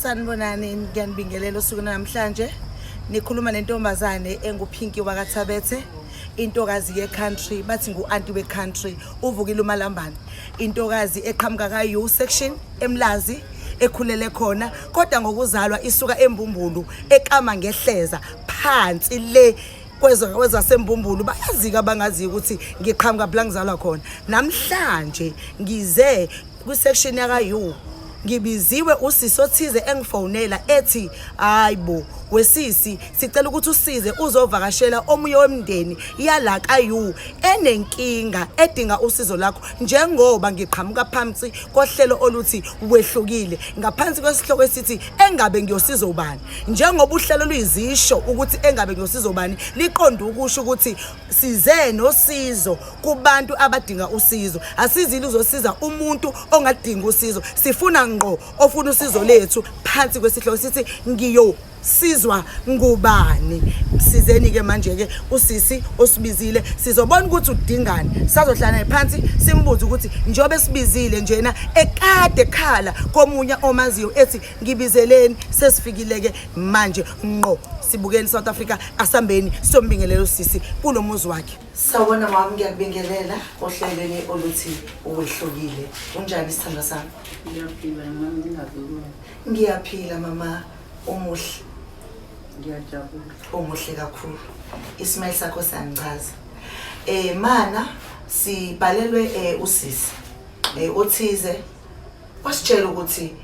sanibonani ngiyanibingelela usuku namhlanje nikhuluma nentombazane enguphinki wakathabethe intokazi ye-country bathi ngu-anti we-country uvukile umalambane intokazi eqhamuka ka-u section emlazi ekhulele khona kodwa ngokuzalwa isuka embumbulu ekama ngehleza phansi le kwezasembumbulu bayazika abangaziyo ukuthi ngiqhamuka phela ngizalwa khona namhlanje ngize kwisection yakayu ngibiziwe usisi othize engifonela ethi hayibo wesisi sicela ukuthi usize uzovakashela omunye wemndeni yala kayu enenkinga edinga usizo lakho njengoba ngiqhamuka phansi kohlelo oluthi wehlukile ngaphansi kwesihloko esithi engabe ngiyosiza ubani njengoba uhlelo luyizisho ukuthi engabe nosizo bani liqonde ukusho ukuthi size nosizo kubantu abadinga usizo asizile uzosiza umuntu ongadinga usizo sifuna ngqo ofuna usizo lethu phansi kwesihloko sithi ngiyo sizwa ngubani sizeni ke manje ke usisi osibizile sizobona ukuthi udingani sazohlala phansi simbuze ukuthi njobe sibizile njena ekade khala komunye omaziyo ethi ngibizeleni sesifikile-ke manje nqo sibukeni south africa asambeni siyombingelela usisi kulo muzi wakhe sawona wami ngiyakubingelela ohlelweni oluthi uwehlukile unjani sithanda sami ngiyaphila mama ngingavikona ngiyaphila mama umuhle ngiyajabula umuhle kakhulu ismail sakho siyangichaza um eh, mana sibhalelwe um usisi um othize wasitshela ukuthi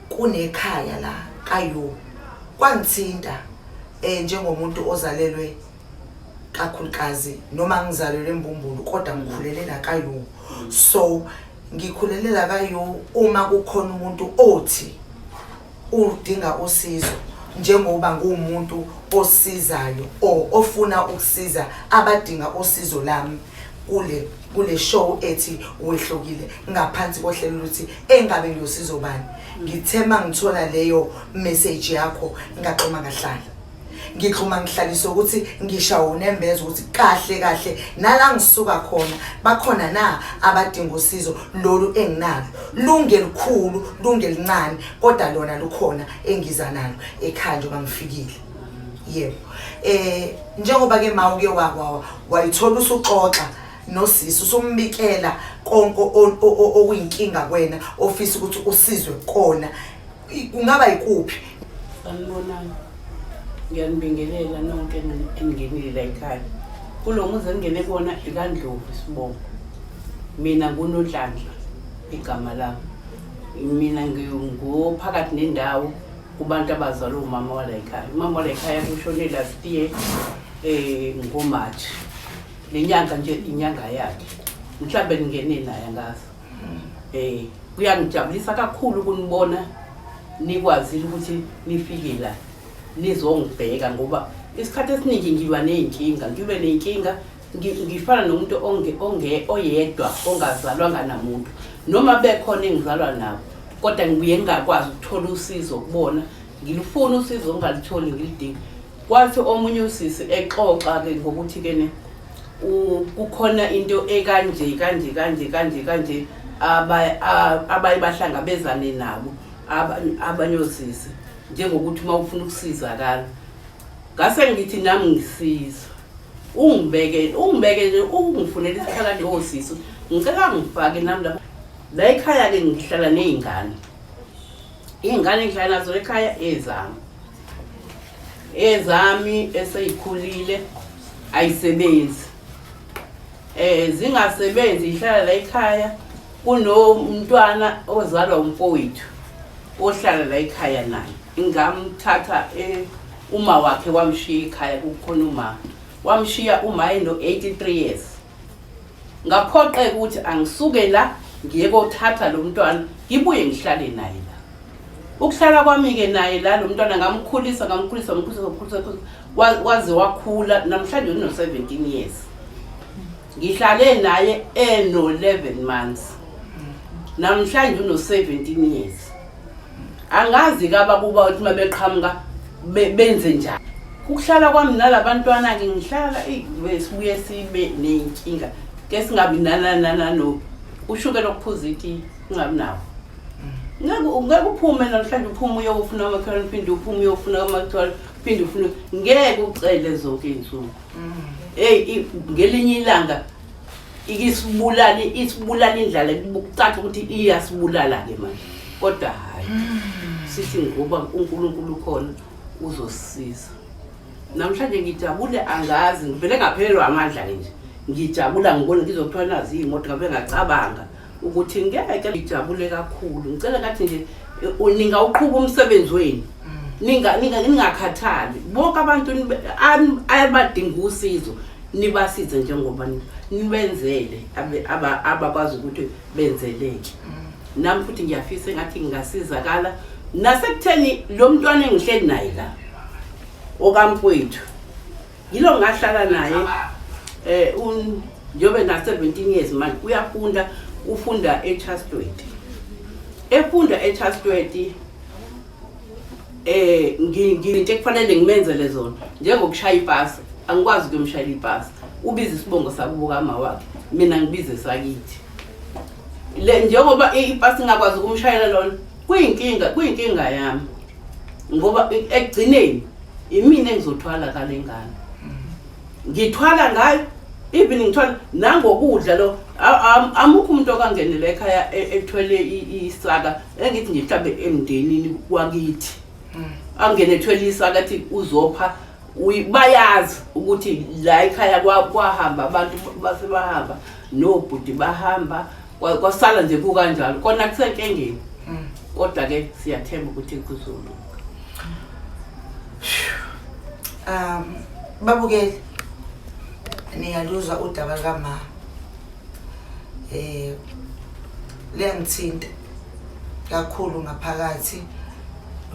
kunekhaya la kayo kwangithinta eh njengomuntu ozalelwe kakhulukazi noma ngizalelwe embumbulu kodwa ngikhulele la kayo so ngikhulele la kayo uma kukhona umuntu othi udinga usizo njengoba nguwumuntu osizayo or ofuna ukusiza abadinga usizo lami kule kule show ethi wehlukile ngaphansi kohlelo luthi engabe ngiyosizo bani ngithema ngithola leyo message yakho ngaqoma ngahlala ngixhuma ngihlalise ukuthi ngishawo unembeza ukuthi kahle kahle nala ngisuka khona bakhona na abadinga usizo lolu enginalo lunge likhulu lunge lincane kodwa lona lukhona engiza nalo ekhaya njengoba ngifikile yebo eh njengoba ke ma uke wakwawa wayithola usuxoxa nosisi usumbikela konke okuyinkinga kwena ofisa ukuthi usizwe kona kungaba yikuphi sanibonani ngiyanibingelela nonke eningenile la ekhaya kulo muzi engingene kona ikandlovu isibongo mina ngunodlandla igama lami mina ngophakathi nendawo kubantu abazalwa umama wala ekhaya umama wala ekhaya kushone last year um ngomarch le nyanga nje inyanga yakhe mhlawumbe ningene naye angazi Eh kuyangijabulisa kakhulu ukunibona nikwazile ukuthi nifike la nizongibheka ngoba isikhathi esiningi ngilwa ney'nkinga ngilwe ney'nkinga ngifana nomuntu oyedwa ongazalwanga namuntu noma bekhona engizalwa nabo kodwa ngibuye ngingakwazi ukuthola usizo kubona ngilufuna usizo ngingalitholi ngilidinga Kwathi omunye usisi exoxa ke ngokuthi ke ne u- kukhona into ekanje kanje kanje kanje kanje aba- a- abaye bahlangabezane nabo aba- abanye osisi njengokuthi uma ufuna ukusizakala ngase ngithi nami ngisiza ungibeke ungibeke nje ungifunela isikhala nje osisi ngicela ngifake nami lapha la ekhaya-ke ngihlala ney'ngane Iy'ngane engihlala nazo ekhaya ezami ezami eseyikhulile ayisebenzi eh zingasebenzi ihlala la ekhaya kunomntwana ozalwa umfowethu ohlala la ekhaya naye ngamthatha eh, uma wakhe wamshiya ekhaya kukhona uma wamshiya uma eno 83 years ngaphoqeka ukuthi angisuke la ngiye kothatha lo mntwana ngibuye ngihlale naye la ukuhlala kwami-ke naye la lo mntwana ngamkhulisa ngamkhulisa ngamkhulisa ngamkhulisa waze wakhula namhlanje uno-seventeen years ngihlale naye eno-eleven months namhlanje uno-seventeen years angazi-ke abakuba ukuthi uma beqhamuka benze njani ukuhlala kwami nalabantwana-ke ngihlala sibuye sibe ney'nkinga ke singabi nananananobi ushuke lokuphuza itiyi ungabi nawo ngeke uphume namhlanje uphume uyokufuna amakhelwane uphinde uphume uyokufuna amakhelwane uphinde ufuna ngeke ucele zonke iy'nsuku mm. eyi ngelinye ilanga ikisibulala isibulala indlala kucaca ukuthi iyasibulala ke manje kodwa hayi sithi ngoba uNkulunkulu khona uzosisiza namhlanje ngijabule angazi ngivele ngaphelelwa amandla ke nje ngijabula ngibona ngizothola nazi imoto ngabe ngacabanga ukuthi ngeke ngijabule kakhulu ngicela kathi nje eh, ningawuqhuba umsebenzi wenu ningakhathali bonke abantu abadinga usizo nibasize njengoba nibenzele abakwazi ukuthi benzeleke mm. nami futhi ngiyafisa engathi ngingasizakala nasekutheni lo mntwana engihleli naye la okamfowethu yilo ngahlala naye eh un njobe na 17 years manje uyafunda ufunda eChastweti efunda eChastweti eh nginte kufanele ngimenzele zona njengokushaya ipasi angikwazi ukumshayela ipasi ubiza isibongo sakubuka ama wakhe mina ngibize sakithi le njengoba ipasi ngakwazi ukumshayela lona kuyinkinga kuyinkinga yami ngoba ekugcineni imina engizothwala kale ngane ngithwala ngayo even ngithwala nangokudla lo amukho umuntu okangenela ekhaya e, ethwele isaka engithi nje mhlawumbe emndenini wakithi hmm. angene ethwele isaka athi uzopha bayazi ukuthi la ekhaya kwahamba abantu basebahamba nobhuti bahamba Kwa- kwasala nje kukanjalo kona kusenkengeni Mm. kodwa ke siyathemba ukuthi kuzolunga um babukeli niyaluzwa udaba lukama eh liyangithinta kakhulu ngaphakathi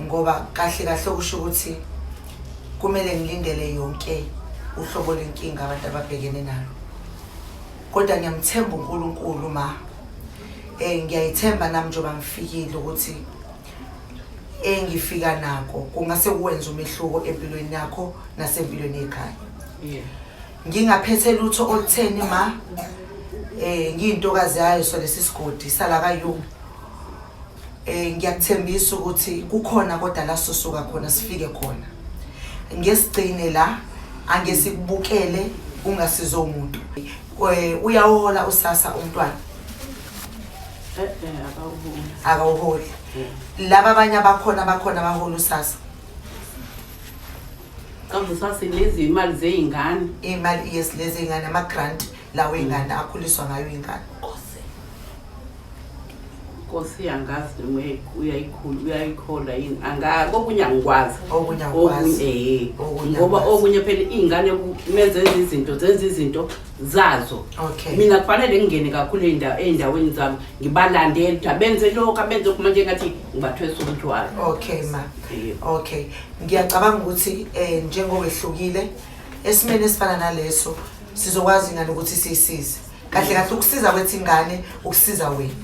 ngoba kahle kahle okusho ukuthi kumele ngilindele yonke uhlobo lenkinga abantu ababhekene nalo kodwa ngiyamthemba uNkulunkulu ma eh ngiyayithemba nami njengoba ngifikile ukuthi engifika nako kungase kuwenza umehluko empilweni yakho nasempilweni yekhaya yeah ngingaphethe lutho olutheni ma eh ngiyintokazi yayo so lesisigodi sala kayu eh ngiyakuthembisa ukuthi kukhona kodwa la sosuka khona sifike khona ngesigcine la angesikubukele ungasizo umuntu eh, uyawohola usasa umntwana eh, eh, akawuholi laba abanye abakhona abakhona abahola usasa kavusase lezi imali zeyingane imali yes lezi ingane ama grant lawo ingane akhuliswa ngayo ingane Nkosi angazi noma uyayikhula uyayikhola yini anga kokunye angikwazi Okunye akwazi. okunye eh Okunye ngoba akwazi. okunye phela izingane kumenze izinto zenza izinto zazo Okay. mina kufanele ngingene kakhulu eyindawo eyindaweni zami ngibalandele ukuthi abenze lokho abenze lokho manje ngathi ngibathwesa umthwalo Okay ma. Yebo. Okay. Ngiyacabanga ukuthi eh njengowehlukile esimene esifana naleso sizokwazi ngani ukuthi sisize. kahle kahle ukusiza kwethu ingane ukusiza wena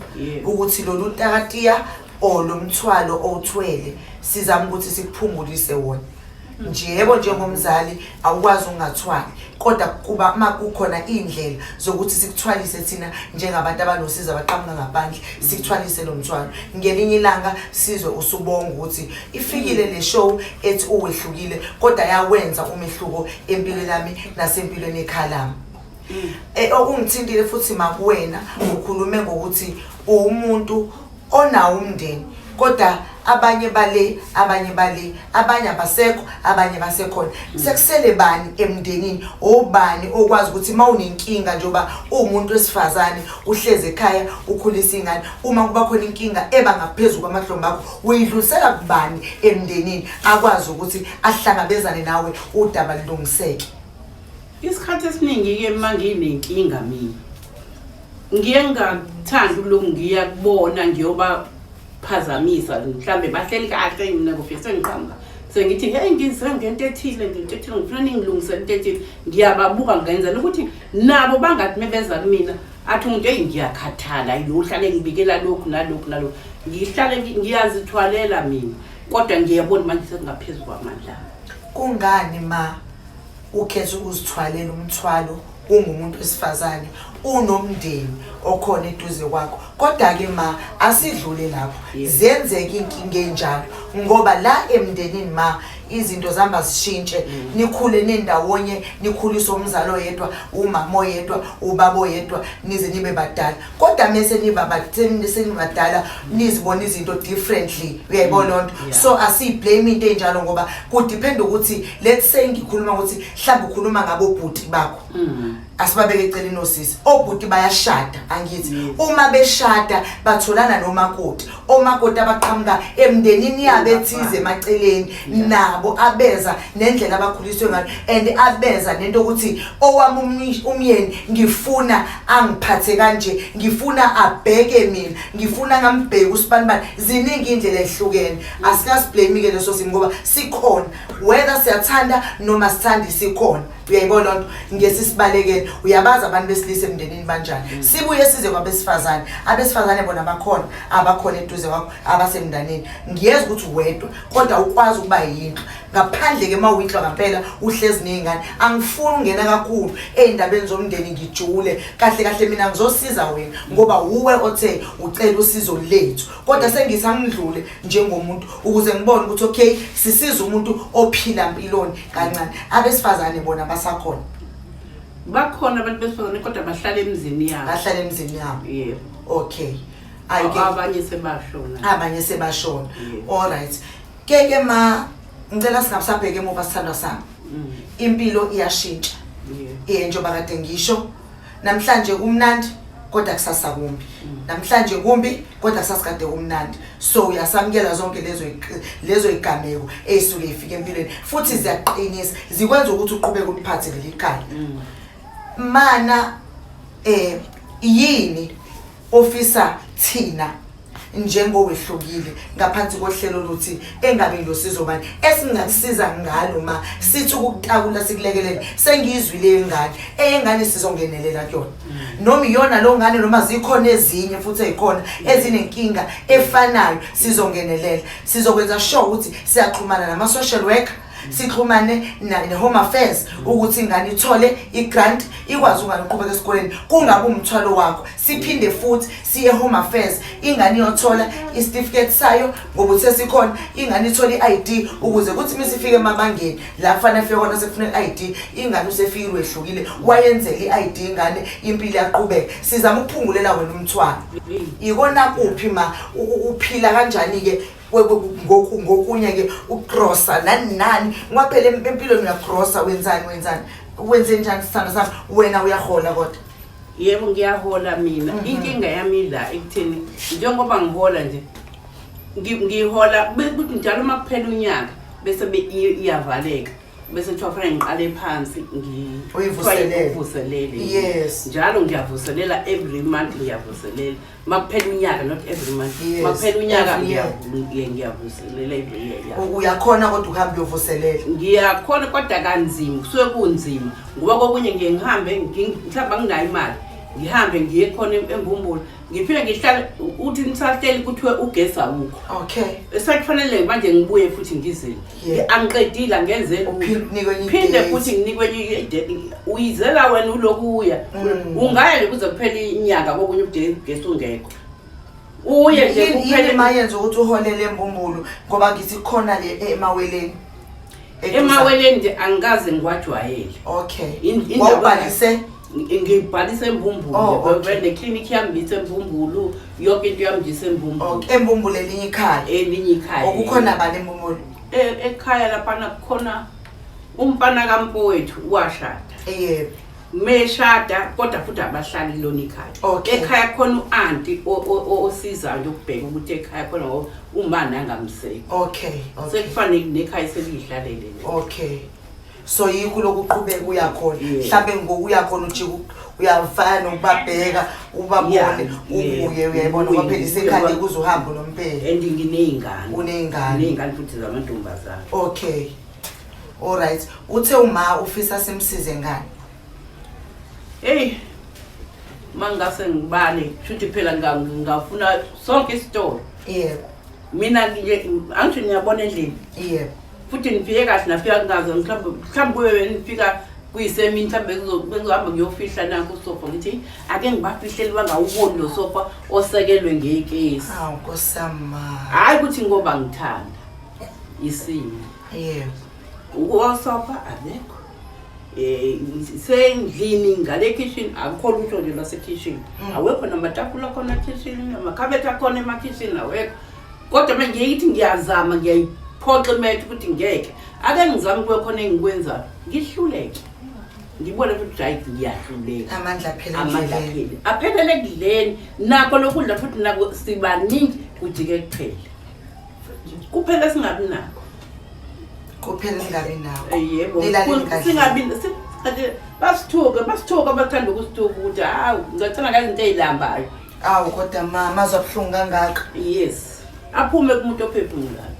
ukuthi lolu takatiya or lo mthwalo owuthwele sizama ukuthi sikuphungulise wona nje yebo njengomzali awukwazi ungathwali kodwa kuba uma kukhona iy'ndlela zokuthi sikuthwalise thina njengabantu abanosizo abaqhamuka ngaphandle sikuthwalise lo mthwalo ngelinye ilanga sizwe usubonga ukuthi ifikile le show ethi uwehlukile kodwa yawenza umehluko empilweni yami nasempilweni ekhaya lami Eh, okungithintile futhi makuwena ukhulume ngokuthi uwumuntu onawo umndeni kodwa abanye bale abanye bale abanye abasekho abanye basekhona sekusele bani emndenini obani okwazi ukuthi uma unenkinga njengoba uwumuntu wesifazane uhlezi ekhaya ukhulisa ingane uma kuba khona inkinga eba ngaphezulu kwamahlombe akho uyidlulisela kubani emndenini akwazi ukuthi ahlangabezane nawe udaba lilungiseke Isikhathi esiningi-ke uma nginenkinga mina ngiye ngingakuthandi ukulokhu ngiya kubona ngiyobaphazamisa mhlawumbe bahleli kahle mina kufike sengiqhamuka sengithi heyi ngize ngento ethile ngento ethile ngifuna ningilungisele into ethile ngiyababuka ngenzela ukuthi nabo bangathi mebeza kumina athi umuntu eyi ngiyakhathala yohlale ngibikela lokhu nalokhu nalokhu ngihlale ngiyazithwalela mina kodwa ngiyabona manje sekungaphezulu kwamandla kungani ma ukhetha ukuzithwalela umthwalo ungumuntu wesifazane unomndeni okhona eduze kwakho kodwa-ke ma asidlule lapho ziyenzeka iy'nkinga enjalo ngoba la emndenini ma izinto zihamba zishintshe mm. nikhule nendawonye nikhulise umzali oyedwa umama oyedwa ubaba oyedwa nize nibe badala kodwa mese nibabasenibadala nizibona izinto differently uyayibona mm, lonto so asiyiblame into enjalo ngoba kudiphenda ukuthi let's say ngikhuluma ukuthi mhlawumbe ukhuluma ngabobhuti bakho mm. asibabeke eceleni osisi obhuti bayashada angithi uma beshada batholana nomakoti omakoti abaqhamuka emndenini yabo ethize emaceleni nabo abeza nendlela abakhuliswe ngayo and abeza nento ukuthi owami umyeni ngifuna angiphathe kanje ngifuna abheke mina ngifuna ngambheke usibanibani ziningi indlela ehlukene asikasiblame-ke leso simo ngoba sikhona whether siyathanda noma sithandi sikhona uyayibona loo nto ngesi sibalekele uyabazi abantu besilisa emndenini banjani mm. sibuye size kwabesifazane abesifazane bona bakhona abakhona eduze kwakho abasemndaneni ngiyeza ukuthi wedwa kodwa ukwazi ukuba yinto ngaphandle ke uma uyinhlwa ngampela uhlezi ney'ngane angifuni ungena kakhulu ey'ndabeni zomndeni ngijule kahle kahle mina ngizosiza wena ngoba wuwe othe ucela usizo lethu kodwa mm. sengithi angidlule njengomuntu ukuze ngibone ukuthi okay sisiza umuntu ophila mpiloni kancane abesifazane bona basakhona bakhona abantu besifazane kodwa bahlala emzini yabo bahlala emzini yabo yebo okay ayike abanye sebashona abanye sebashona all right ke ke ma ngicela singabusabheke emuva sithandwa sami mm. impilo iyashintsha iye njengoba kade ngisho namhlanje kumnandi kodwa kusasa kumbi mm. namhlanje kumbi kodwa kusasa kade kumnandi so uyasamukela zonke lezo lezo igameko ezisuke ifike empilweni futhi ziyaqinisa zikwenza ukuthi uqhubeke umphathe lelikhaya mm. mana eh yini ofisa thina njengowehlukile ngaphansi kohlelo luthi engabe ngilosizo bani esingakusiza ngalo ma sithi ukutakula sikulekelele sengiyizwile yengane eyengane sizongenelela kuyona mm. noma iyona lo ngane noma zikhona ezinye futhi ezikhona ezinenkinga efanayo sizongenelela sizokwenza sure ukuthi siyaxhumana nama social worker sixhumane ne-home affairs ukuthi ingane ithole i-grant ikwazi ungane uqhubeka esikoleni kungabi umthwalo wakho siphinde futhi siye home affairs ingane iyothola isitifiketi sayo ngoba uthe sikhona ingane ithole i-i d ukuze kuthi uma isifike emabangeni la kufanele fike kona sekufuna i-i d ingane usefike lwehlukile wayenzele i-i d ingane impilo yaqhubeka sizama ukuphungulela wena umthwalo ikona kuphi ma uphila kanjani-ke ngokunye ke ugrosa nani nani kwaphela empilweni uyagrosa wenzani wenzani wenze njani sithando sami wena uyahola kodwa yebo ngiyahola mina mhm. inkinga yami la ekutheni njengoba ngihola nje ngihola kuthi njalo uma kuphela unyaka bese iyavaleka bese kuthiwa fanele ngiqale phansi ngivuselele yes njalo ngiyavuselela every month ngiyavuselela makuphela unyaka not every month Yes, makuphela unyaka every year. ngiyavu- ngiye- ngiyavuselela every year yeah. U- uyakhona kodwa ukuhamba uyovuselela ngiyakhona kodwa kanzima kusuke kunzima ngoba kokunye ngiye ngihambe ngi- mhlawumbe anginayo imali ngihambe ngiye khona em- embumbulu ngiphinde ngihlale uthi nisahleli kuthiwe ugesi awukho okay esakufanele manje ngibuye futhi ngizile Yeah. angiqedile angenze lutho. Uphinde unikwe enye phinde idate. futhi nginikwe enye idate uyizela wena uloku uya Mm. ungaya nje kuze kuphele inyanga kokunye ubugesi ungekho uye nje Yini- yini kuphele ma yenza ukuthi uholele embumbulu ngoba ngithi khona le e- emaweleni Eduza- emaweleni nje angikaze ngiwajwayele okay In- indawo- wawubhalise ngibhalise embumbulu oh, okay. neclinic yami ngiyise embumbulu yonke into yami ngiyise embumbulu okay. embumbulu elinye ikhaya elinye ikhaya okukhona bani embumbulu e, ekhaya laphana kukhona umfana kampowethu washada yebo meshada kodwa futhi abahlali lona ikhaya okay. ekhaya khona u-anti osizayo ukubheka ukuthi ekhaya khona ngoba umani angamseki okay, okay. sekufanele nekhaya seliyihlalele okay so yikho lokuqhubeka uyakhona mhlampe ngoku uyakhona ujika uyafana nokubabheka ubabone ubuye uyayibona kwaphela isekhande kuze uhambe unompela and nginey'ngane uney'ngane uney'ngane futhi zamantombazane okay all right uthe uma ufisa simsize ngani eyi uma ngingase ngibale shuthi phela ngingafuna sonke isitolo yebo mina nje angisho ngiyabona endlini yebo futhi ngifike kahle nafika kungazo mhlawumbe mhlawumbe kube benifika kuyisemini mhlawumbe bengizohamba ngiyofihla nanko usofa ngithi ake ngibafihleli bangawuboni lo sofa osekelwe ngekesi hawu nkosama hhayi ukuthi ngoba ngithanda isimo yebo usofa akekho Eh, sendlini ngale kitchen akukho lutho nje lwasekitchen mm. awekho namatafula khona kitchen amakhabethe akhona emakitchen awekho kodwa manje ngiye ngithi ngiyazama ngiyayiphoxa imethe ukuthi ngeke ake ngizame kube khona engikwenzayo ngihluleke ngibone ukuthi right ngiyahluleka amandla aphele amandla endleleni. aphele aphelele ekudleni nakho lokudla futhi nako sibaningi kujike kuphele kuphela singabi nakho kuphela ningabi nawo Eh, yebo Nilalele kahle. singabi si- ade- basithuke basithuke abathanda ukusithuka ukuthi hawu ngicela ngazinto ezilambayo awu kodwa ma mazwa buhlungu kangaka yes aphume kumuntu ophephumulayo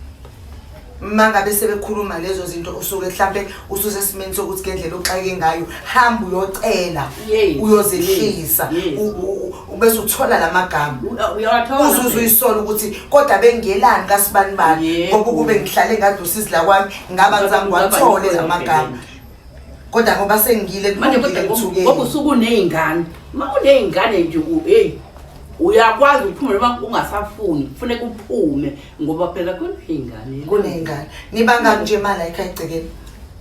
ma ngabe sebekhuluma lezo zinto usuke mhlampe ususe esimeni sokuthi ngendlela oxake ngayo hamba uyocela Yes, uyozehlisa yes, yes. U- u- u- bese uthola la magama U- uyawathola uzuze phela. uyisola ukuthi kodwa bengelani kasibani bani Yebo. ngoba ukube ngihlale ngadusizi la kwami ngaba Ngaba- ngizange ngaba ngiwathole la yikho magama yonke kodwa ngoba sengile manje kodwa ngoba usukuneyingane uma uneyingane nje hey uyakwazi ukuphuma noma ungasafuni kufuneka uphume ngoba phela kuneyingane kuneyingane nibanga nje imali ayikho egcekeni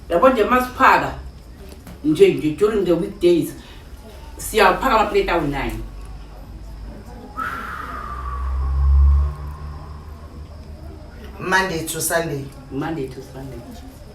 yabo nje masiphaka nje nje during the weekdays siyaphaka amaplate awu-9 monday to sunday monday to sunday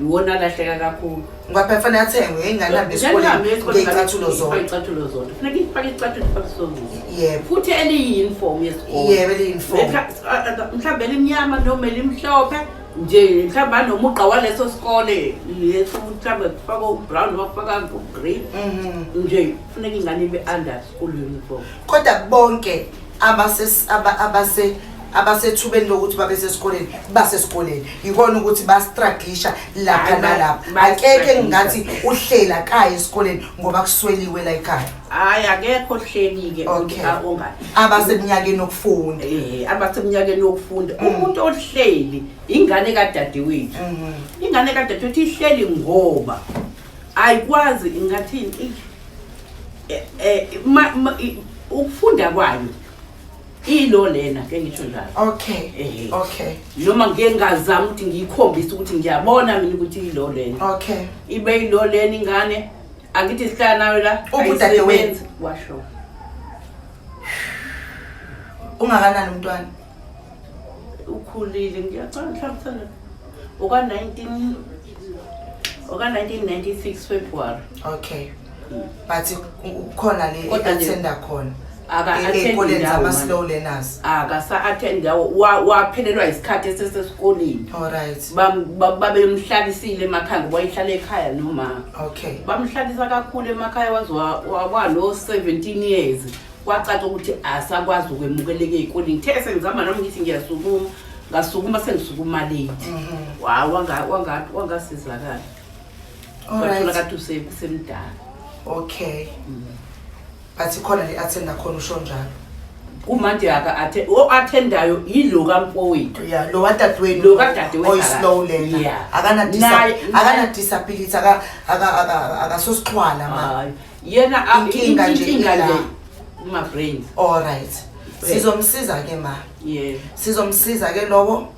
Iwona alahleka kakhulu. Ngoba phela fanele athengwe ingane esikoleni ngeyicathulo zodwa. Ngeyicathulo zodwa. Funeka ifake icathulo ifake isongo. Yebo. Futhi eliyi-uniform yesikole. Yebo eliyi-uniform. Mhlawumbe elimnyama noma elimhlophe nje mhlawumbe anomugqa waleso sikole leso mhlawumbe kufaka ubrown noma kufaka ugreen mhm. nje funeka ingane ibe under school uniform kodwa bonke abasethubeni lokuthi babe sesikoleni basesikoleni yikona ukuthi bastraglisha lapha nalapha akekho engingathi uhlela kaya esikoleni ngoba kusweliwe la ekhaya hhayi akekho ohleli-ke abaseminyakeni yokufunda eh, abaseminyakeni yokufunda mm. umuntu ohleli ingane kadadewethu mm-hmm. ingane kadadewethu ihleli ngoba ayikwazi ingathini eh, eh, ukufunda kwayo ilo lena ke ngisho njalo okay eh. okay noma ngike ngazama ukuthi ngiyikhombise ukuthi ngiyabona mina ukuthi ilo lena okay ibe ilo lena ingane angithi sihlala nayo la ubudade wenzi washo ungakanani umntwana ukhulile ngiyacanga mhlawumbe oka-19 oka-1996 february okay hmm. but ukhona le athenda khona akaathendikoleni zama-slow learners akasa-athendi yawo waphelelwa isikhathi esesesikoleni olright babemhlalisile emakhaya ngoba ihlala ekhaya nomama okay bamhlalisa kakhulu emakhaya waze walo-seventeen years kwacaca ukuthi asakwazi ukwemukeleka ey'koleni ngithe sengizama nami ngithi ngiyasukuma ngasukuma sengisukuma late mhm. waw wangasizakala wathola kade usemdala okay mm. but ikhona le athenda khona usho njalo kumanje aka athe o athendayo yilo kamfowethu yeah lo wadadewenu lo kadadewenu oyislow lena yeah. akana akana disability aka aka akasosixhwala manje yena a- Inkinga nje inkinga ila. le kuma-brain Alright. Sizomsiza ke ma. yeah Sizomsiza ke lowo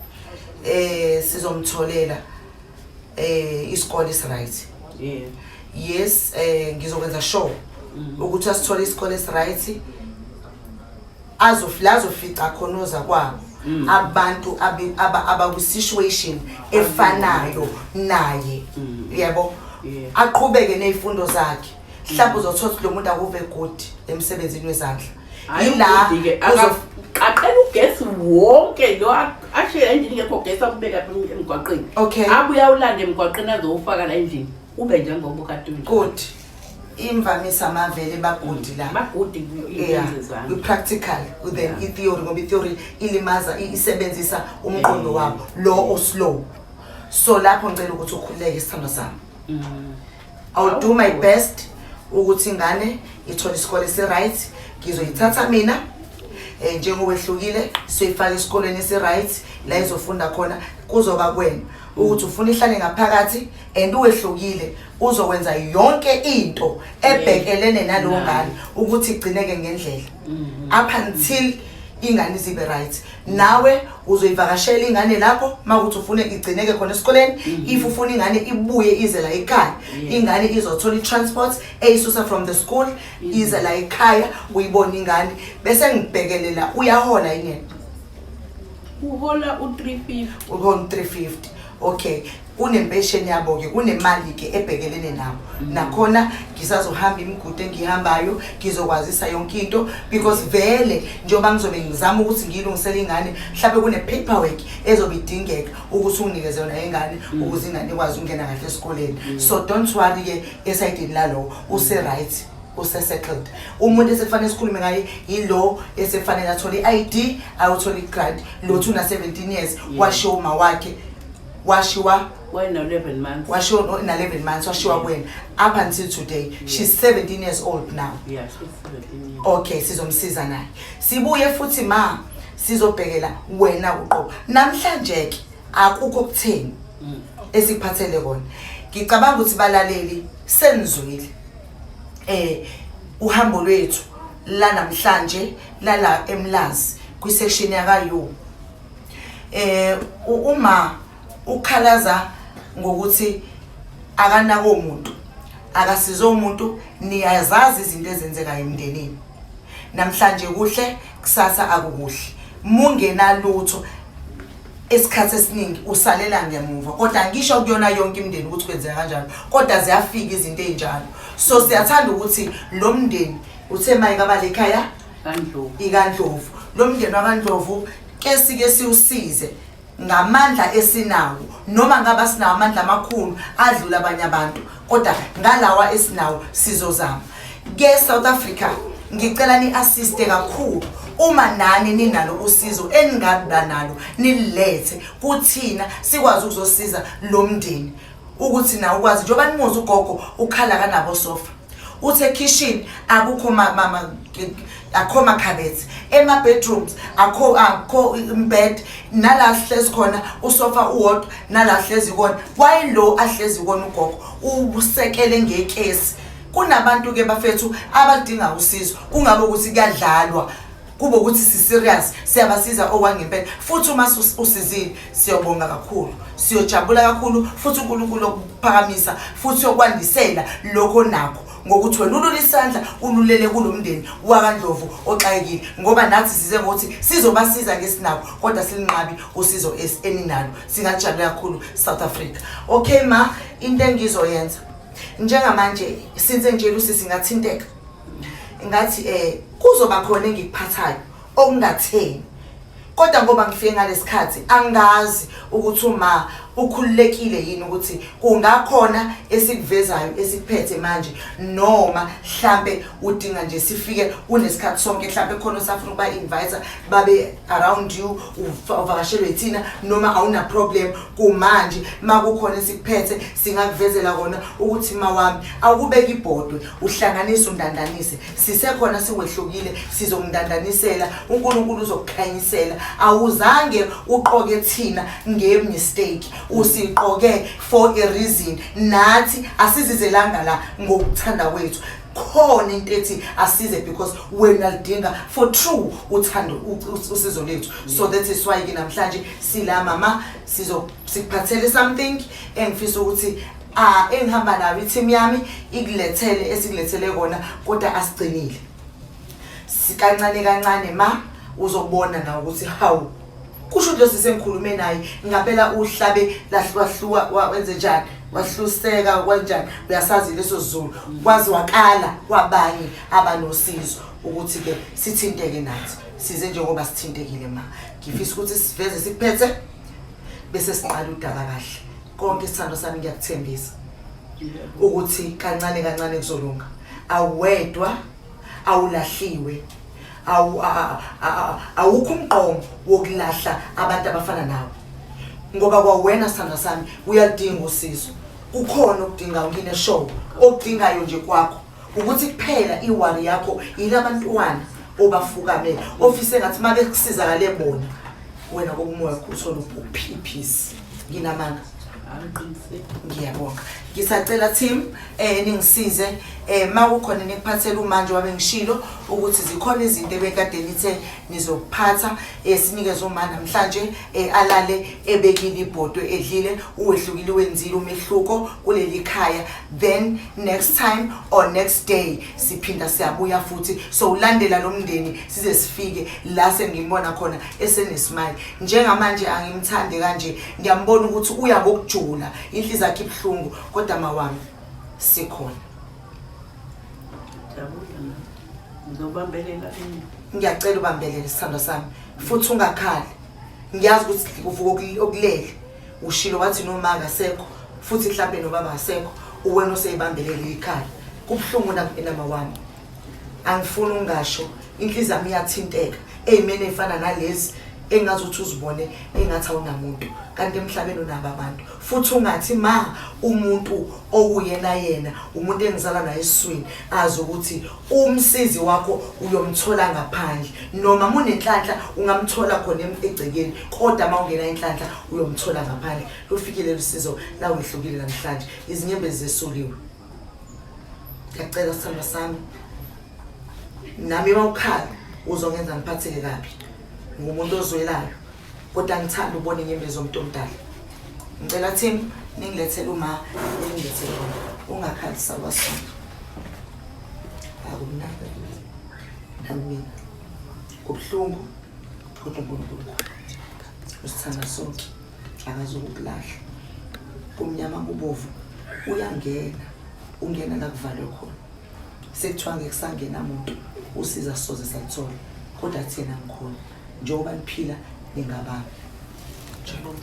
eh sizomtholela eh isikole is right. yeah Yes eh ngizokwenza sure ukuthi asithole isikole is right azofla azofica khona ozakwabo Mm. abantu abakwisituation efanayo naye mm. yebo aqhubeke nezifundo zakhe mhlawumbe mm. uzothola ukuthi lo muntu akuve good emsebenzini wezandla yila aqela ugesi wonke lo ashiye endlini ngekho ugesi akubeka emgwaqeni abuye awulande emgwaqeni azowufaka la endlini ube njengoba ukade good imvamisa amavele bagudi la bagudi kwi-practical then i-theory ngoba i-theory ilimaza isebenzisa umqondo wabo lo oslow so lapho ngicela ukuthi ukhululeke isithando sami mm. iwill do my best ukuthi ingane ithole isikole esi-right ngizoyithatha mina um njengowehlukile soyifake esikolweni esi-right la izofunda khona kuzoba kwena ukuthi ufuna ihlale ngaphakathi and uwehlukile uzokwenza yonke into ebhekelene nalowo ngane ukuthi igcineke ngendlela mm-hmm. up until ingane izibe right nawe uzoyivakashela ingane lapho makuthi ufune igcineke khona esikoleni mm-hmm. if ufuna ingane ibuye ize la ekhaya ingane izothola i-transport eyisusa from the school mm-hmm. ize la ekhaya uyibona ingane bese ngibhekelela uyahola ingene uhola u-350 uhola u-350 okay kunempesheni yabo-ke kunemali-ke ebhekelene nabo mm. nakhona ngisazohamba imigudu engihambayo ngizokwazisa yonke into because vele njengoba ngizobe ngizama ukuthi ngiyilungisele ingane mhlawumbe kune-paperwork ezobe idingeka ukuthi unginikeze yona ingane mm. ukuze ingane ikwazi ukungena kahle esikoleni mm. so don't worry-ke esayidini lalowo use-right usesettled umuntu esekufanele sikhulume ngaye yilo esekufanele athole i-id ayothole i-grant lothi una-17 years washiwa uma wakhe washiwa washiwa na-11 months washiwa kwena up until today she's 17 years old now okay sizomsiza naye sibuye futhi ma sizobhekela wena uqobo namhlanje-ke akukho kutheni mm. esikuphathele kona ngicabanga ukuthi balaleli senizwile eh uhambo lwethu la namhlanje lala emlazi kwi section yaka yo eh uma ukhalaza ngokuthi akanako umuntu akasize umuntu niyazazi izinto ezenzeka emndenini namhlanje kuhle kusasa akukuhle mungenalutho isikhathi esiningi usalela ngemuva kodwa ngisho kuyona yonke imndeni ukuthi kwenzeka kanjalo kodwa ziyafika izinto ezinjalo so siyathanda ukuthi lo mndeni uthe mayike abalekhaya ikandlovu lo mndeni wakandlovu ke sike siwusize ngamandla esinawo noma ngaba sinawo amandla amakhulu adlula abanye abantu kodwa ngalawa esinawo sizozama ke south africa ngicela ni-assiste kakhulu uma nani ninalo usizo eningabiba nalo nililethe kuthina sikwazi ukuzosiza lo mndeni ukuthi nawe ukwazi njengoba nimuzi ugogo ukhala kanabo sofa uthe ekhishini akukho mama akho makhabethe ema bedrooms akho akho imbed nala sihlezi khona usofa uwodwa nala sihlezi kona why lo ahlezi kona ugogo ubusekele ngekesi kunabantu ke bafethu abadinga usizo kungabe ukuthi kuyadlalwa kube ukuthi siserious siyabasiza okwangempela futhi uma usizile siyobonga kakhulu siyojabula kakhulu futhi uNkulunkulu okuphakamisa futhi okwandisela lokho nakho ngokuthi wena ulule isandla ululele kulo mndeni wakandlovu oxakekile ngoba nathi size ngokuthi sizobasiza ngesinabo kodwa silinqabi usizo eninalo singajabule kakhulu south africa okay ma into engizoyenza njengamanje since nje lusisi ngathinteka ngathi um kuzoba khona engikuphathayo okungatheni Kodwa ngoba ngifike ngalesikhathi angazi ukuthi uma ukhululekile yini ukuthi kungakhona esikuvezayo esiphethe manje noma mhlambe udinga nje sifike unesikhathi sonke mhlambe khona osafuna ukuba invite babe around you uvakashelwe thina noma awuna problem kumanje makukhona esikuphethe singakuvezela kona ukuthi mawami awukubeki ibhodwe uhlanganise undandanise sisekhona siwehlukile sizomndandanisela uNkulunkulu uzokukhanyisela awuzange uqoke thina nge mistake usiqoke for a reason nathi asizizelanga la ngokuthanda kwethu khona into ethi asize because wena lidinga for true uthando usizo lethu so that is why ke namhlanje sila mama sizo sikuphathele something engifisa ukuthi Ah engihamba nayo i-team yami ikulethele esikulethele kona kodwa asigcinile. Sikancane kancane ma uzobona na ukuthi hawu kusho ukuthi lesi sengikhulume naye ngapela uhlabe lahlwahluwa wa- wenze njani wahluseka kwanjani uyasazi leso sizulu kwazwakala kwabanye abanosizo ukuthi ke sithinteke nathi size njengoba sithintekile ma ngifisa ukuthi siveze sikuphethe bese sinqala udaba kahle konke isithando sami ngiyakuthembisa ukuthi kancane kancane kuzolunga awedwa awulahliwe awukho umqomo wokulahla abantu abafana nawe ngoba kwawena sithando sami uyaludinga usizo kukhona okudinga ukine show okudingayo nje kwakho ukuthi kuphela iwari yakho yilabantwana obafukamele ofise ngathi uma bekusizakale bona wena kokumoya kuthole uphiphisi nginamanga ngiyabonga ngisacela team eh ningisize eh makukhona nikuphathela umanje wabe ngishilo ukuthi zikhona izinto ebekade nithe nizokuphatha eh, sinikeze uma namhlanje eh, alale ebekile ibhodwe edlile uwehlukile wenzile umehluko kuleli khaya then next time or next day siphinda siyabuya futhi so ulandela lo mndeni size sifike la sengimbona khona esenesimali njengamanje angimthande kanje ngiyambona ukuthi uya ngokujula inhliziyo yakhe ibuhlungu kodwa mawami sikhona ngiyacela ubambelele sithandwa sami futhi ungakhali ngiyazi ukuthi uvuka okulele ushilo wathi nomaka sekho futhi mhlawumbe nobaba asekho uwena oseyibambelele ikhaya kubuhlungu enama wami angifuni ungasho inhliziyo yami iyathinteka eyimene eyifana nalezi engazi ukuthi uzibone engathi awunamuntu kanti emhlabeni unabo abantu futhi ungathi ma umuntu okuyena yena umuntu engizala naye esiswini azi ukuthi umsizi wakho uyomthola ngaphandle noma munenhlanhla ungamthola khona egcekeni kodwa uma ungena inhlanhla uyomthola ngaphandle lufikile lusizo lawehlukile namhlanje izinyembezi zesuliwe ngiyacela sithando sami nami bawukhala uzongenza ngiphatheke kabi ngumuntu ozwelayo kodwa ngithanda ubona inyembezi omuntu omdala ngicela team ningilethele uma ningilethele wona ungakhalisa kwasona akumnandi namina kubuhlungu kodwa unkulunkulu usithanda sonke akazokukulahla kumnyama kubovu uyangena ungena la kuvalwe khona sekuthiwa ngeke kusangena muntu usiza soze saluthola kodwa thina ngikhona njengoba niphila ningababa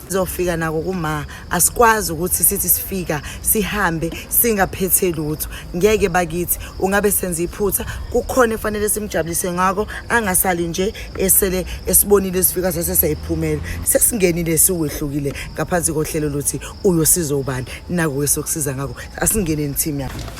zofika nako kuma asikwazi ukuthi sithi sifika sihambe singaphethe lutho ngeke bakithi ungabe senza iphutha kukhona efanele simjabulise ngako angasali nje esele esibonile sifika sase sayiphumela sesingenile siwehlukile ngaphansi kohlelo lothi uyosiza ubani nako wesokusiza ngako asingene nithimi yakho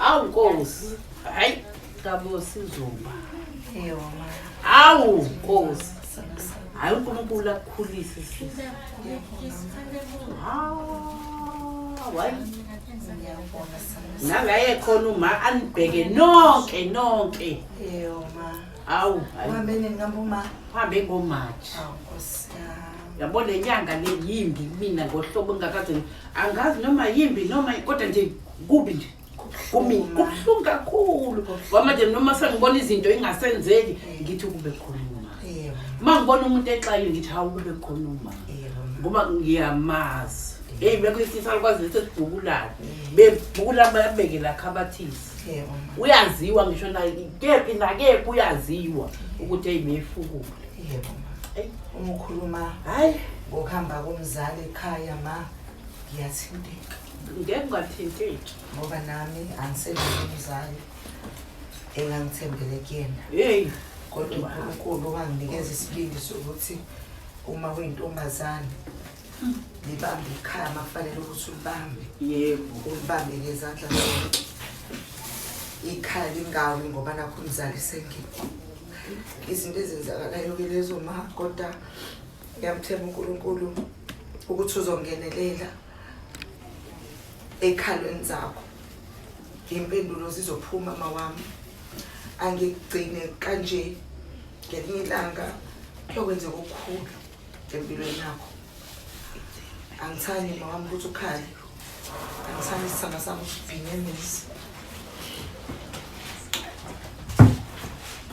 Awu Nkosi. Hayi kabo sizoba. Eyona. Awu Nkosi. Hayi uNkulunkulu akukhulise sisi. Hayi. Nangaye khona uma anibheke nonke nonke. Eyoma. Awu. Uhambe nini ngambuma? Uhambe ngoMarch. Awu Nkosi. Yabo le nyanga le yimbi mina ngohlobo ngingakaze angazi noma yimbi noma kodwa nje kubi nje kumina kubuhlungu kakhulu ngoba manje noma sengibona izinto ingasenzeki ngithi kube khona uma uma ngibona umuntu exayile ngithi hawu kube khona uma ngoba ngiyamazi eyi bekho isisa likwazi lethi sibhukulane bebhukula babeke la khabathisi uyaziwa ngisho kephi nakephi uyaziwa ukuthi eyi beyifukule Yebo ma. Eyi uma ukhuluma hayi ngokuhamba komzali ekhaya ma ngiyathinteka. Ngeke ungathinteki. Ngoba nami angisebenzi umzali engangithembele kuyena. Hey kodwa uNkulunkulu wanginikeza isibindi sokuthi uma uyintombazane hmm. libambe ikhaya makufanele ukuthi ulibambe. Yebo. Ulibambe ngezandla zonke. Ikhaya lingawi ngoba nakho umzali sengekho. izinto ezenzakalayo ke lezo ma kodwa ngiyamthemba uNkulunkulu ukuthi uzongenelela ekhalweni zakho impendulo zizophuma mawami angigcine kanje ngelinye ilanga kuyokwenzeka okukhulu empilweni yakho angithandi mama wami ukuthi ukhale angithandi isithanda sami usibhinge nisi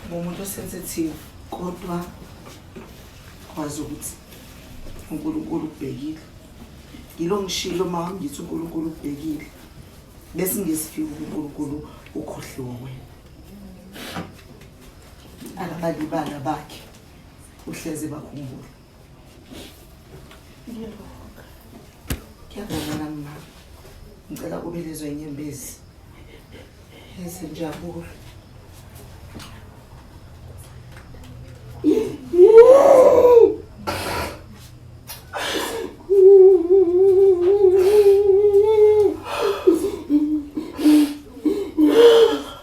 ngumuntu osensitive kodwa kwazi ukuthi unkulunkulu ubhekile yilo ngishilo uma wami ngithi unkulunkulu ubhekile bese ngesifika unkulunkulu ukhohliwe wena akabalibala bakhe uhlezi bakhumbula ngiyabonga nami mama ngicela kube lezo inyembezi ezinjabulo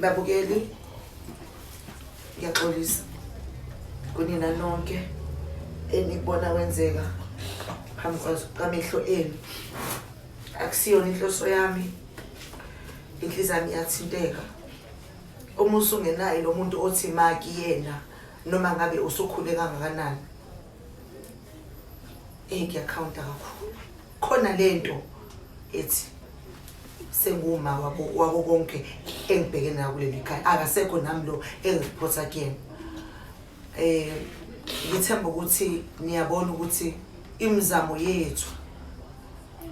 babukeli ngiyaxolisa kunina nonke enikubona wenzeka phambi kwamehlo enu akusiyona inhloso yami inhliziyo yami iyathinteka uma usungenaye lo muntu othi maki yena noma ngabe usukhule kangakanani eyi kuyakhawunta kakhulu khona le nto ethi senguma wako konke engibheke nayo kuleli khaya akasekho nami lo engiphotha kuyena um ngithemba ukuthi niyabona ukuthi imizamo yethu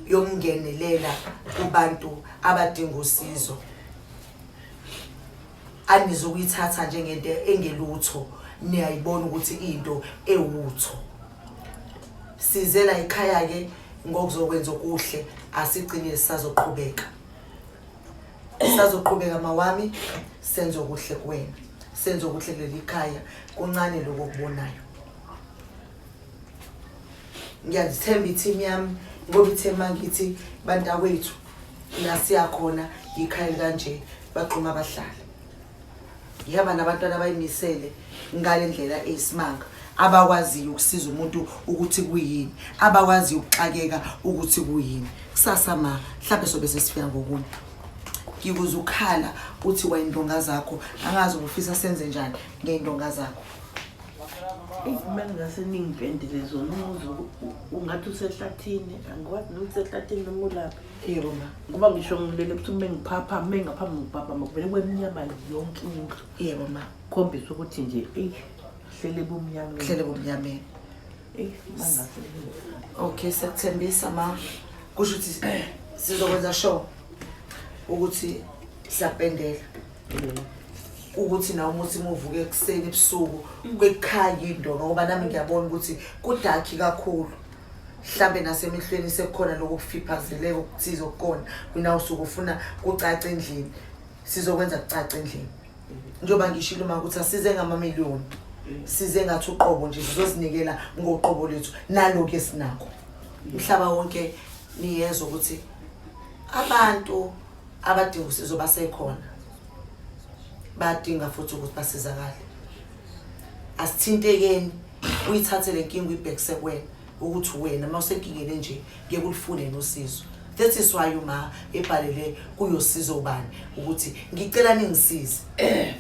yokungenelela kubantu abadinga usizo anizukuyithatha njengento engelutho niyayibona ukuthi into ewutho size la ekhaya ke ngokuzokwenza okuhle asigcine sisazoqhubeka sazoqhubeka mawami senze okuhle kuwena senze okuhle kuleli khaya kuncane lokho okubonayo ngiyazithemba i-team yami ngoba ithe mangithi bantakwethu la siyakhona yikhaya likanje baqoma abahlali ngihamba nabantwana abayimisele ngale ndlela eyisimanga abakwaziyo ukusiza umuntu ukuthi kuyini abakwaziyo ukuxakeka ukuthi kuyini kusasa ma mhlawumbe sobe sesifika ngokunye ngikuze ukhala uthi wayindonga zakho angazi ubufisa senze njani ngeyindonga zakho Izimali ngase ningipendile zona umuzi ungathi usehlathini angikwazi nokuthi sehlathini noma ulaphi yebo ma ngoba ngisho ngilele ukuthi uma ngiphapha uma ngaphambi ngiphaphama kuvele kube mnyama yonke indlu yebo ma khombisa ukuthi nje eyi hlele bumnyameni hlele bumnyameni eyi mangase okay siyakuthembisa ma kusho ukuthi sizokwenza sure ukuthi siyapendela ukuthi nawe umuthi muvuke ekuseni ebusuku kwekukhanya into ngoba nami ngiyabona ukuthi kudakhi kakhulu mhlambe nasemehlweni sekukhona lokho kufiphazeleka okuthize okukona wena usuke ufuna kucaca endlini sizokwenza kucaca endlini njengoba ngishilo uma ukuthi asize ngamamiliyoni size ngathi uqobo nje sizozinikela ngoqobo lethu naloku esinako umhlaba wonke niyezwa ukuthi abantu abadinga usizo basekhona badinga futhi ukuthi basizakale asithintekeni uyithathe le nkinga uyibhekise kuwena ukuthi wena uma usenkingeni enje kuye kulifune nosizo that is why uma ebhalele kuyosiza ubani ukuthi ngicela ningisize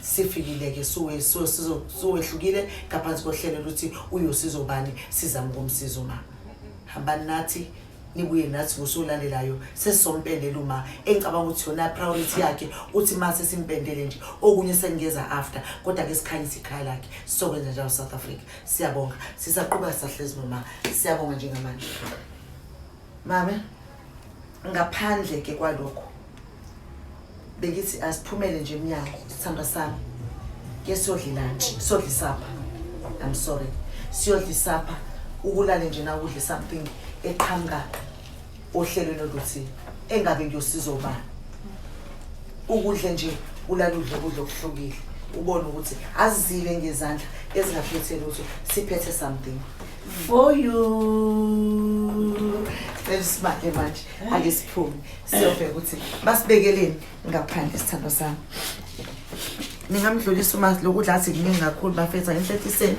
sifikile-ke siwehlukile ngaphansi kohlelo luthi uyosiza ubani sizame ukumsiza uma hambani nathi nibuye nathi ngosolandelayo sesizompendela uma engicabanga ukuthi yona priority yakhe uthi uma sesimpendele nje okunye sengeza after kodwa ke sikhanyisa ikhaya lakhe sizokwenza njalo south africa siyabonga sisaqhuba sisahlezi noma siyabonga njengamanje mame ngaphandle ke kwalokho bengithi asiphumele nje emnyango sithanda sami ke siyodla lunch siyodla isapha i'm sorry siyodla isapha ukulale nje na udle something eqhamuka ohlelweni oluthi engabe ngiyosiza ubani ukudle nje ulale udle kudla okuhlukile ubone ukuthi azile ngezandla ezingaphethe lutho siphethe something for you sesibake manje ake siphume siyobheka ukuthi basibekeleni ngaphandle isithando sami ningamdlulisa uma lokudla athi kuningi kakhulu bafetha enhletiseni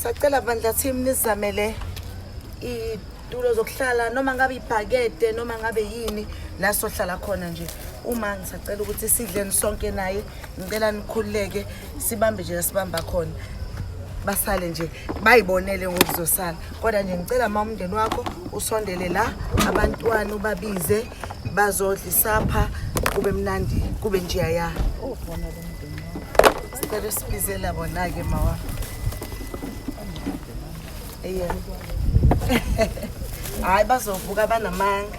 sacela bandla team nizamele iy'tulo zokuhlala noma ngabe ibhakede noma ngabe yini la sohlala khona nje uma ngisacela ukuthi sidleni sonke naye ngicela nikhululeke sibambe nje lasibamba khona basale nje bayibonele ngokuzosala kodwa nje ngicela ma umndeni wakho usondele la abantwana ubabize bazodla isapha kube mnandi kube njeya ya sicela sibizela bona-ke mawa eye hhayi bazovuka banamanga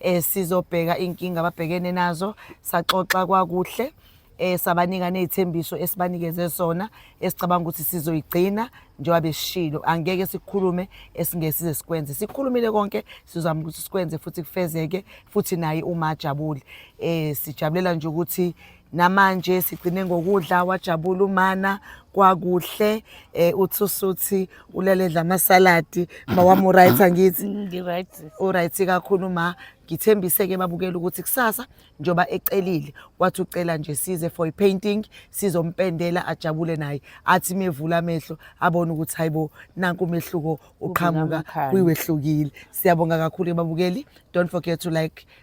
eh sizobheka inkinga ababhekene nazo saxoxa kwakuhle eh sabanika nezithembiso esibanikeze sona esicabanga ukuthi sizoyigcina njengoba besishilo angeke sikhulume esingesize sikwenze sikhulumile konke sizama ukuthi sikwenze futhi kufezeke futhi naye uma ajabule eh sijabulela nje ukuthi namanje sigcine ngokudla wajabula umana kwakuhle eh uthi usuthi uleledla amasaladi mawamu right angithi Ngi-right. uright kakhulu ma ngithembise ke babukela ukuthi kusasa njoba ecelile wathi ucela nje size for ipainting sizompendela ajabule naye athi mevula amehlo abone ukuthi hayibo nanku umehluko uqhamuka Ubunamkhaya. kwiwehlukile siyabonga kakhulu ke babukeli don't forget to like